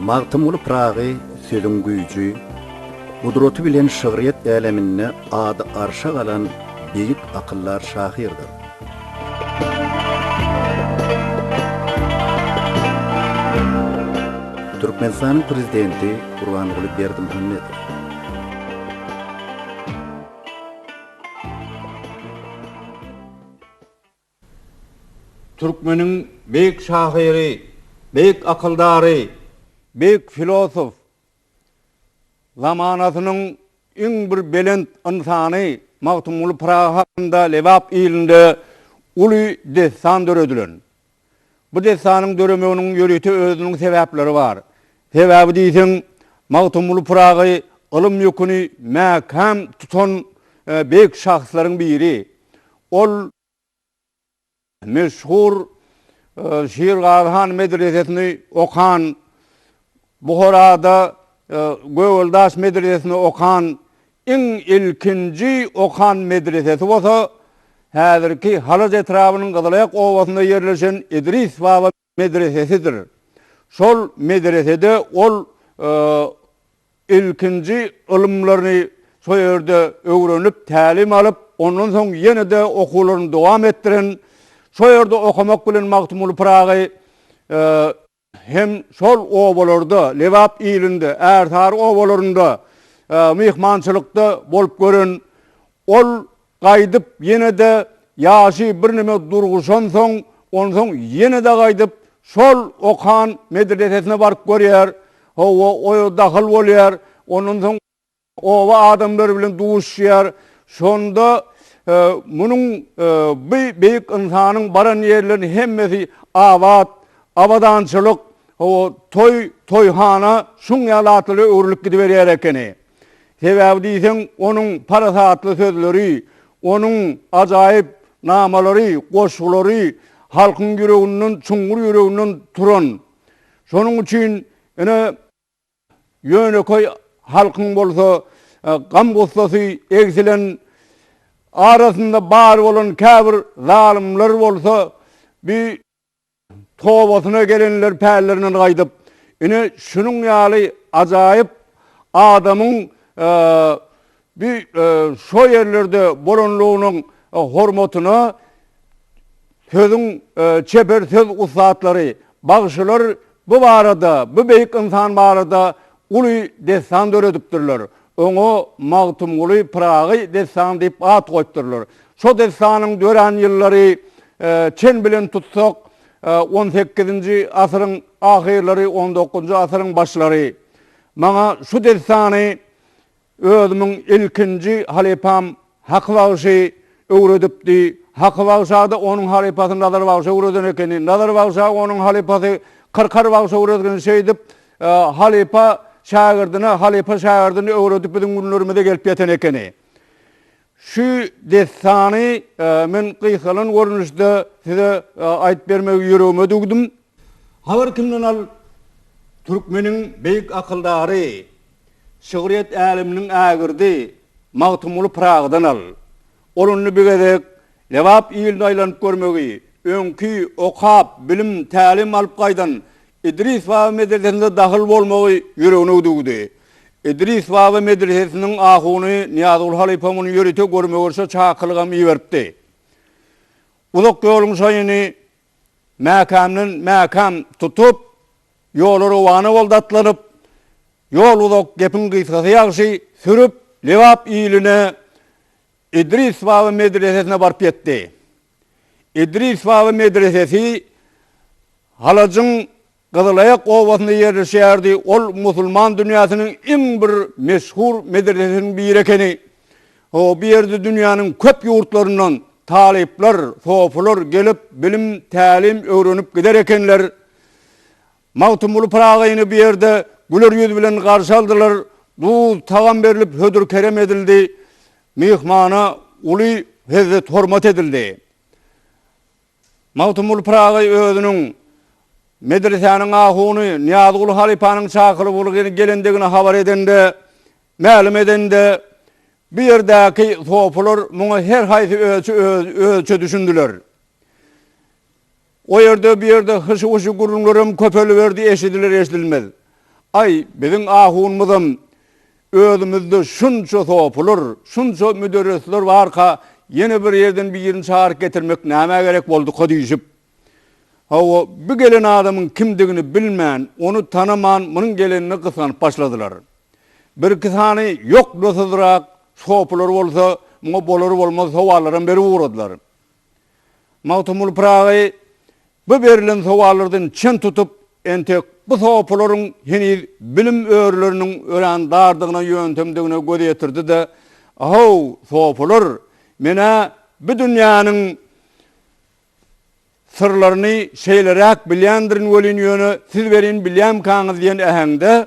Magtymguly Pyragy sözüň güýji, gudraty bilen şygryýet äleminde ady arşa galan beýik akyldar şahyrdyr. Türkmenistanyň Prezidenti Gurbanguly Berdimuhamedow. Türkmeniň beýik şahyry, beýik akyldary, beýik filosof, zamanasynyň iň bir belent ynsany Magtymguly Pyragy hakynda Lebap ilinde uly dessan döredilen. Bu dessanyň döremeginiň ýörite özüniň sebäpleri bar. Sebäbi diýseň, Magtymguly Pyragy ylym ýüküni mäkäm tutan beýik şahslaryň biri. Ol meşhur Şirgazy han medresesini okan, Buharada Gögeldaş medresesini okan, iň ilkinji okan medresesi bolsa häzirki Halaç etrabynyň Gyzylaýak obasynda ýerleşen Idris baba medresesidir. Şol medresede ol ilkinji ylymlaryny şo ýerde öwrenip, tälim alyp, ondan soň ýene-de okuwlaryny dowam etdiren, şo ýerde okamak bilen Magtymguly Pyragy hem şol obalarda, Lebap ilinde, Ärsary obalarynda myhmançylykda bolup gören. Ol Gaýdyp ýene-de ýaşy birneme durguşansoň, onsoň ýene-de gaýdyp şol okan medresesine baryp görýär. Hawa, oýa dahyl bolýar. Ondan soň oba adamlary bilen duşýar. Şonda munuň bu beýik ynsanyň baran ýerleriniň hemmesi abat, abadançylyk, hawa, toý, toýhana şuň ýaly zatlara öwrülip gidiberýär ekeni. Sebäbi diýseň, onuň parasatly sözleri, onuň ajaýyp namalary, goşgulary halkyň ýüreginden, çuňňur ýüreginden turan. Şonuň üçin, ine, ýönekeý halkyň bolsa gam-gussasy egsilen, arasynda bar bolan käbir zalymlar bolsa bi. Tobasyna gelenler pällerinden gaýdyp, ine, şunuň ýaly ajaýyp adamyň bi şo ýerlerde bolanlygynyň hormatyna sözüň çeper söz ussatlary, bagşylar bu barada, bu beýik ynsan barada Uly dessan döredipdirler. Oňa Magtymguly Pyragy dessany diýip at goýupdyrlar. Şo dessanyň dörän ýyllary çen bilen tutsak, on sekizinji asyryň ahyrlary, on dokuzynjy asyryň başlary. Maňa şu dessany Özümiň ilkinji halypam Haky bagşy öwredipdi. Haky bagşada onuň halypasy Nazar bagşy öwreden ekeni. Nazar bagşa onuň halypasy Kyrkar bagşy öwredgeni. Şeýdip, halypa şägirdine, halypa şägirdini öwredip biziň günlerimize gelip ýeten ekeni. Şu dessany men gysgalan görnüşde size aýdyp bermegi ýüregime düwdüm. Habar kimden al? Türkmeniň beýik akyldary, şygryýet äleminiň ägirdi Magtymguly Pyragydan al. Ol indi bir gezek Lebap iline aýlanyp görmegi, öňki okap, bilim, tälim alyp gaýdan Idris baba medelesinde dahyl bolmagy ýüregine düwdi. Idris baba medresesiniň ahuny Nyýazguly halypa muny ýörite görme-görşe çakylygam iberipdi. Uzak ýoluň şaýyny mäkämden mäkäm tutup, ýola rowana boldy atlanyp. Ýol uzak, gepiň gysgasy ýagşy sürüp, Lebap iline, Idris baba medresesine baryp ýetdi. Idris baba medresesi Halajyň Gyzylaýak obasynda ýerleşýärdi, ol musulman dünýäsiniň iň bir meşhur medresesiniň biri ekeni. Bu ýerde dünýäniň köp ýurtlaryndan talyplar, sofular gelip, bilim, tälim öwrenip gider ekenler. Magtymguly Pyragyny bu ýerde güler ýüz bilen garşy aldylar, duz, tagam berlip hödür-kerem edildi, myhmana uly hezzet-hormat edildi. Magtymguly Pyragy özüniň medresäniň ahuny Nyýazguly halypanyň çakylyk ulgamy gelendigini habar edende, mälim edende, bu ýerdäki sopular muňa her haýsy özçe özçe düşündiler. O ýerde bu ýerde hyşy-wyşy gürrüňlerem köpeliberdi, eşidiler-eşidilmez. Aý, biziň ahunymyzam Özümizde şunça sopular, şunça müderrisler barka, ýene bir ýerden birini çagyryp getirmek nämä gerek bolduka diýşip, hawa, bu gelen adamyň kimdigini bilmän, ony tanaman munuň gelenine gysganyp başladylar. Birki sany ýoklusyzrak sopular bolsa, muňa bolar-bolmaz sowallaram berip ugradylar. Magtymguly Pyragy Bu berlen sowallardan çen tutup, entek bu sopularyň heniz bilim örüleriniň örän dardygyna ýöntemdigine göz ýetirdi-de, Ahow, sopular, men-ä bu dünýäniň syrlaryny şeýleräk bilýändirin welin, ýöne siz welin bilýämikaňyz diýen äheňde,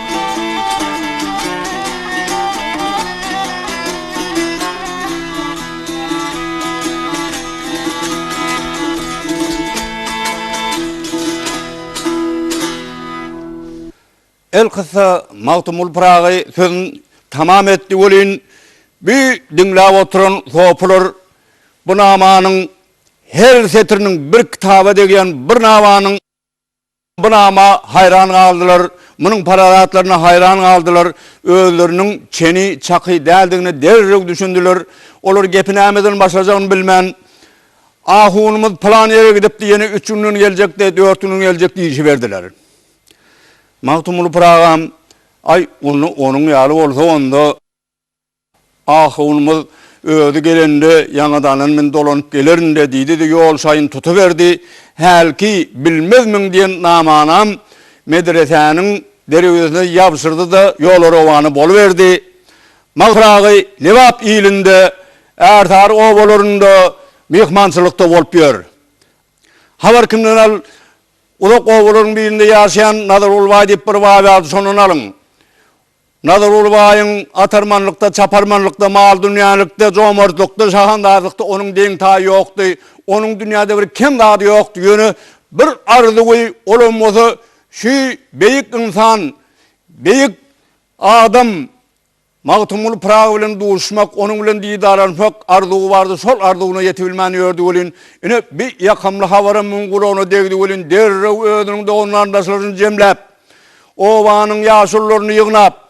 Elkyssa, Magtymguly Pyragy sözüni tamam etdi welin, bu diňläp oturan sopular bu namanyň her setiriniň bir kitaba degýän, bir namanyň. Bu nama haýran galdylar, munuň parasatlaryna haýran galdylar, özleriniň çeni çaky däldigine derrew düşündiler. Olar gepi nämeden başlajagyny bilmän, Ahunymyz pylan ýere gidipdi, ýene üç günden geljekdi, dört günden geljek diýişiberdiler. Magtymguly Pyragy hem, Aý, onda onuň ýaly bolsa, onda. Ahunymyz özi gelende, ýaňadanam men dolanyp gelerin-dä diýdi-de, ýol şaýyn tutuberdi. Hälki bilmezmiň diýen namanam medresäniň derwezesine ýabşyrdy-da, ýola rowana boluberdi. Mahyragy Lebap ilinde, ärsary obalarynda myhmançylykda bolup ýör. Habar kimden al, uzak obalaryň birinde ýaşaýan Nazargulbaý diýip bir baý bardy, şondan alyň. Nazarguly baýyň atarmanlykda, çaparmanlykda, mal-dünýälikde, jomartlykda, şahandazlykda onuň deň-taýy ýokdy. Onuň dünýäde bir kem zady ýokdy. Ýöne bir arzuwy, olam bolsa şu beýik ynsan, beýik adam Magtymguly Pyragy bilen duşmak, onuň bilen didarlaşmak arzuwy bardy. Şol arzuwyna ýetibilmän ýördi welin, ine, bi ýakamly habaram muň gulagyna degdi welin, derrew özüniň dogan-garyndaşlaryny jemläp, Obanyň ýaşulularyny ýygnap,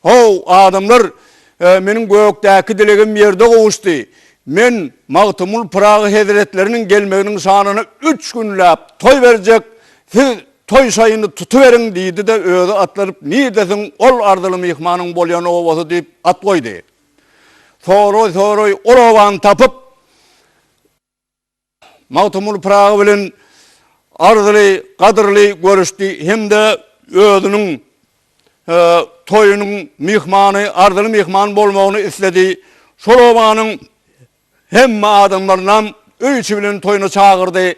How, adamlar, meniň gökdäki dilegim ýerde gowuşdy. Men Magtymgul Pyragy hezretleriniň gelmeginiň şanyna üç günläp toý berjek, siz toý şaýyny tutuberiň, diýdi-de, özi atlanyp, Nirdesin ol arzyly myhmanyň bolýan obasy? diýip at goýdy. Soraý-soraý ol obany tapyp. Magtymguly Pyragy bilen arzyly, gadyrly görüşdi hem-de özüniň toýunyň myhmany, arzyly myhman bolmagyny isledi. Şol obanyň hemme adamlarynam öý içi bilen toýuna çagyrdy.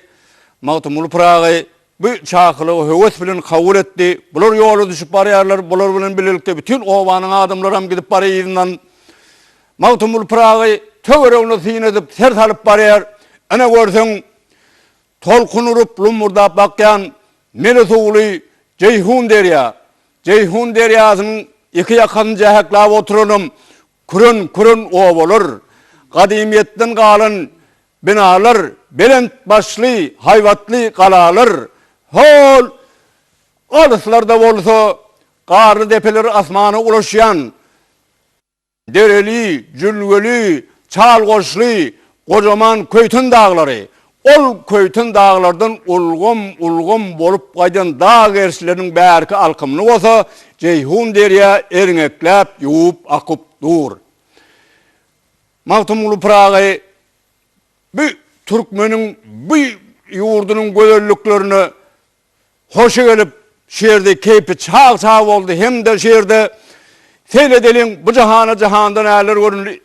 Magtymguly Pyragy bu çakylygy höwes bilen kabul etdi. Bular ýola düşüp barýarlar, bular bilen bilelikde bütin obanyň adamlaram gidip barýar yzyndan. Magtymguly Pyragy töweregine syn edip, ser salyp barýar. Ine görseň, tolkun urup, lummurdap akýan mele suwly Jeýhun derýa. Jeýhun derýasynyň iki ýakasyny jäheklap oturanam küren-küren obalar. Gadymyýetden galan Binalar, belent başly, haýbatly galalar, hol, alyslarda bolsa, garly depeler asmana ulaşýan dereli, jülgeli, çal goşly, gojaman Köýten daglary, ol Köýten daglardan ulgam, ulgam bolup gaýdan dag gerşleriniň bärki alkymyny bolsa Jeýhun derýa erňekläp ýuwup akyp dur. Magtymguly Pyragy bu türkmeniň bu ýurdunyň gözelliklerine hoşy gelip, şu ýerde keýpi çag-çag boldy hem-de şu ýerde Seýledeliň bu jahana jahanda näler göründi,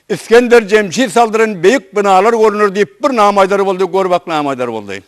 Isgender Jemşit saldyran beýik binalar görüner diýip bir nama aýdar boldy, gör bak nama aýdar boldy.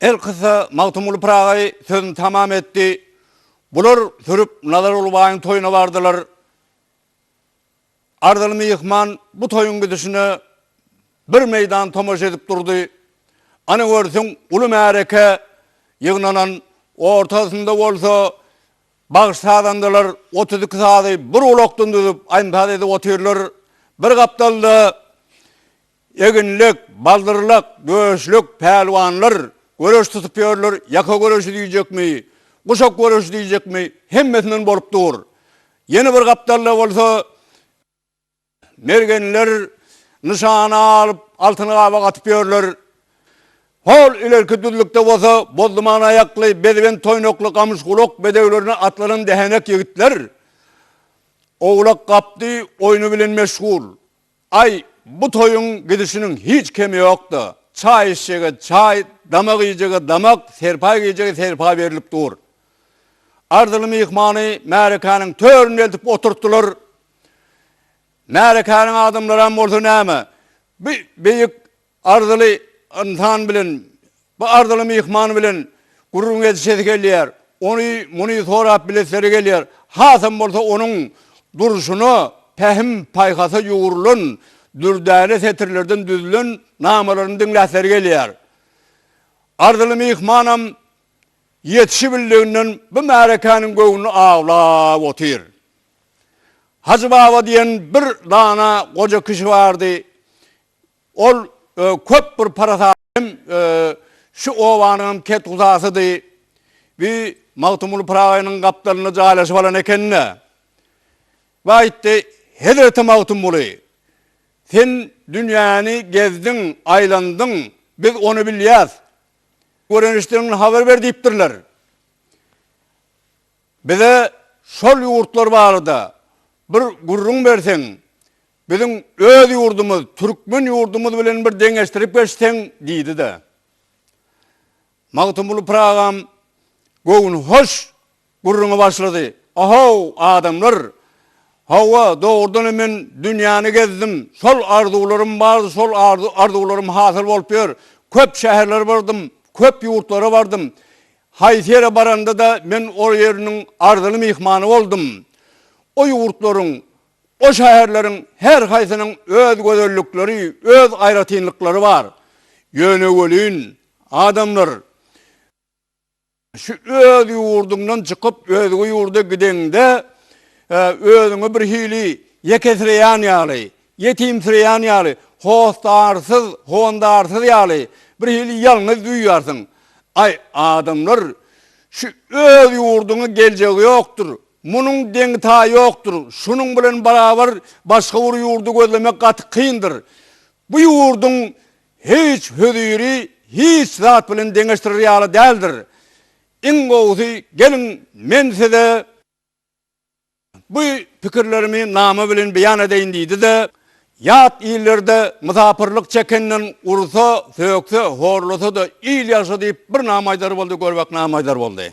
Elkyssa, Magtymguly Pyragy sözüni tamam etdi, Bular sürüp Nazarguly baýyň toýuna bardylar. Arzyly myhman bu toýuň gidişine bir meýdan tomaşa edip durdy. Ana görsüň, uly märeke ýygnanan, ortasynda bolsa bagşy-sazandalar otuz iki sazy bir gulakdan düzüp, aýym-saz edip otyrlar. Bir gapdalda Eginlek, baldyrlak, göçlük, pälwanlar, göreş tutup ýörler, ýaka göreşi diýjekmi, guşak göreşi diýjekmi, hemmesinden bolup dur. Ýene bir gapdalda bolsa mergenler nyşana alyp, altyny gabak atyp ýörler. Hol ilerki düzlükde bolsa bozduman aýakly, bezibent toýnakly gamyşgulak bedewlerine atlanan dähenek ýigitler owlak-gapdy oýny bilen meşgul. Aý, bu toýuň gidişiniň hiç kemi ýok-da, çaý içjege çaý, damak iýjege damak, serpaý geýjege serpaý berlip dur. Arzyly myhmany märekäniň töründe eltip oturtdylar. Märekäniň adamlaram bolsa näme, bu beýik Arzyly ynsan bilen, bu arzyly myhman bilen gürrüň gezişesi gelýär. Ony, muny sorap bilesleri gelýär. Hasam bolsa onuň durşuna, pähim, paýhasa ýugrulan, dürdäne setirlerden düzülen namalaryny diňläsleri gelýär. Arzyly myhmanam ýetişibildiginden bu märekäniň göwnüni awlap otyr. Hajy baba diýen bir dana goja kişi bardy. Ol köp bir parasatly hem şu obanyňam ketguzasydy. Bi Magtymguly Pyragynyň gapdalynda jaýlaşyp alan eken-de. Bi aýtdy, Hezreti Magtymguly, sen dünýäni gezdiň, aýlandyň, biz ony bilýäs. Gören-eşideniňden habar ber diýipdirler. Bize şol ýurtlar barada bir gürrüň berseň, Biziň öz ýurdumyz, türkmen ýurdumyz bilen bir deňeşdirip geçseň, diýdi-de, Magtymguly Pyragy agam göwnühoş gürrüňe başlady, Ahow, adamlar! Hawa, dogrudan hem men dünýäni gezdim, şol arzuwlarym bardy, şol arzuwlarym hasyl bolup ýör. Köp şäherlere bardym, köp ýurtlara bardym. Haýsy ýere baranda-da men ol ýeriniň arzyly myhmany boldum. O ýurtlaryň, O şäherleriň her haýsynyň öz gözellikleri, öz aýratynlyklary bar. Ýöne welin, adamlar, şu öz ýurduňdan çykyp, özge ýurda gideňde, özüňi bir hili ýekesireýän ýaly, ýetimsireýän ýaly, hosdarsyz, hondarsyz ýaly, bir hili ýalňyz duýýarsyň. Aý, adamlar, şu öz ýurduňa geljegi ýokdur, Munuň deňi-taýy ýokdur. Şunuň bilen barabar başga bir ýurdy gözlemek gaty kyndyr. Bu ýurduň hiç höziri hiç zat bilen deňeşdirer ýaly däldir. Iň gowusy geliň men size bu pikirlerimi nama bilen beýan edeýin diýdi-de, Ýat illerde mysapyrlyk çekenden ursa, sökse, horlasa-da il ýagşy diýip bir nama aýdar boldy, gör bak nama aýdar boldy.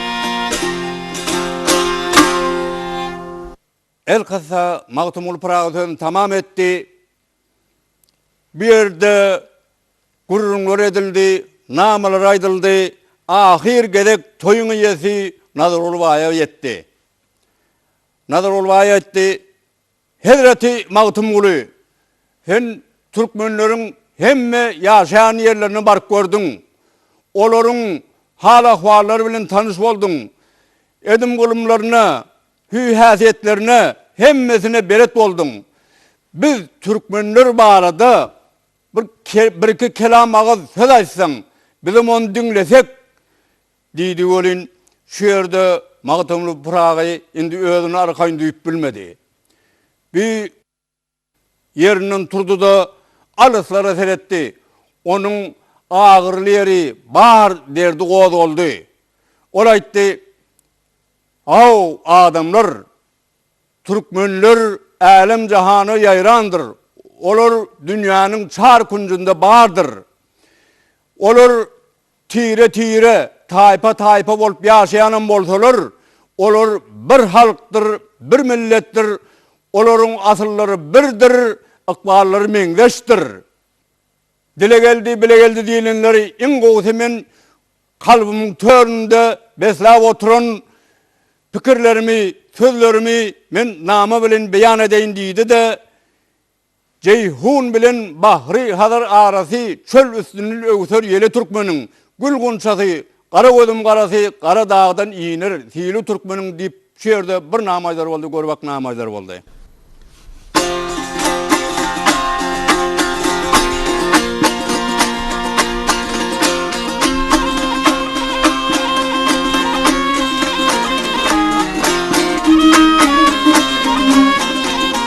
Elkyssa, Magtymguly Pyragy sözüni tamam etdi. Bu ýerde gürrüňler edildi, namalar aýdyldy. Ahyr gezek toýuň eýesi Nazarguly baýa ýetdi. Nazarguly baý aýtdy, Hezreti Magtymguly, sen türkmenleriň hemme ýaşaýan ýerlerine baryp gördüň, olaryň hal-ahwallary bilen tanyş bolduň, edim-gylymlaryna, hüý-häsiýetlerine hemmesine belet bolduň. Biz türkmenler barada bir birki kelam agyz söz aýtsaň, bizem ony diňlesek, Diýdi welin, şu ýerde Magtymguly Pyragy indi özüni arkaýyn duýup bilmedi. Bi ýerinden turdy-da, alyslara seretdi. Onuň agyryly ýeri bar derdi gozgaldy. Ol aýtdy, Haw, adamlar! Türkmenler älem-jahana ýaýrandyr. Olar dünýäniň çar künjünde bardyr. Olar Tire-tire, taýpa-taýpa bolup ýaşaýanam bolsalar, olar bir halkdyr, bir milletdir, olaryň asyllary birdir, ykballary meňzeşdir. Dile geldi, bile geldi diýlenleri iň gowusy men kalbymyň töründe besläp oturan pikirlerimi, sözlerimi men nama bilen beýan edeýin diýdi-de, Jeýhun bilen bahry Hazar arasy çöl üstünl öwser ýeli türkmeniň gül gunçasy Gara gözüm garasy gara dagdan iner sili türkmeniň diýip şu ýerde bir name aýdar boldy görübak name aýdar boldy.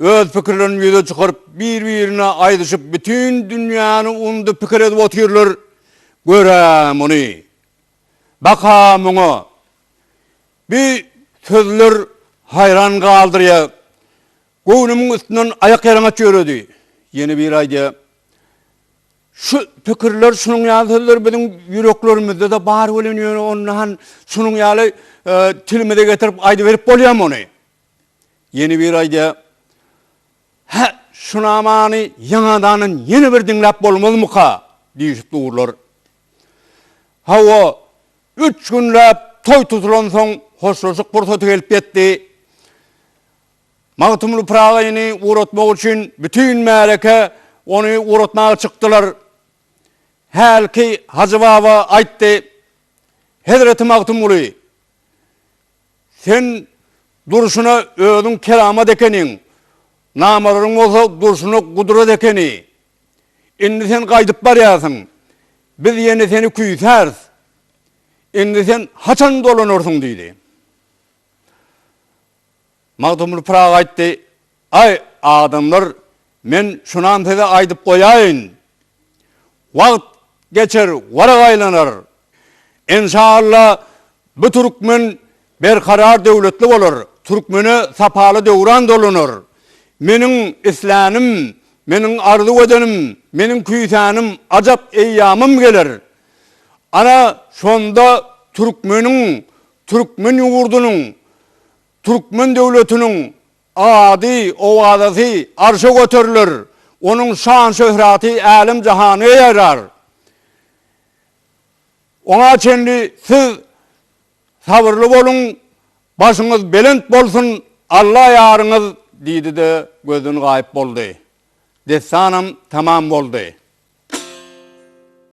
Öz pikirlerini ýüze çykaryp, bir-birine aýdyşyp bütin dünýäni undy pikir edip otyrlar, gör-ä muny! Bak-a muňa! Bi sözler haýran galdyrýa, göwnümiň üstünden aýak ýalaňaç ýöredi. Ýene biri aýdýa, Şu pikirler, şunuň ýaly sözler biziň ýüreklerimizde-de bar welin ýöne onda han şunuň ýaly tilimize getirip aýdyberip bolýamy ony? Ýene biri aýdýar, Hä, şu namany ýaňadanam ýene bir diňläp bolmazmyka? diýşip durlar. Hawa, üç günläp toý tutulansoň hoşlaşyk pursaty gelip ýetdi. Magtymguly Pyragyny ugratmak üçin bütin märeke ony ugratmaga çykdylar. Hälki Hajy baba aýtdy, Hezreti Magtymguly! Sen durşuna özüň keramat ekeniň, namalaryň bolsa durşuna gudrat ekeni. Indi sen gaýdyp barýarsyň. Biz ýene seni küýsäris. Indi sen haçan dolanarsyň? diýdi. Magtymguly Pyragy aýtdy, Aý, adamlar, men şunam size aýdyp goýaýyn. Wagt geçer, warak aýlanar. Enşalla, bu türkmen berkarar döwletli bolar, türkmene sapaly döwran dolanar. Meniň islänim, meniň arzuw edenim, meniň küýsänim, ajap eýýamym geler. Ana, şonda türkmeniň, türkmen ýurdunyň Türkmen döwletiniň ady, owazasy arşa göteriler, onuň şan-şöhraty älem-jahana ýaýrar. Oňa çenli siz sabyrly boluň, başyňyz belent bolsun, Alla ýaryňyz! diýdi-de, gözden gaýyp boldy. Dessanam tamam boldy.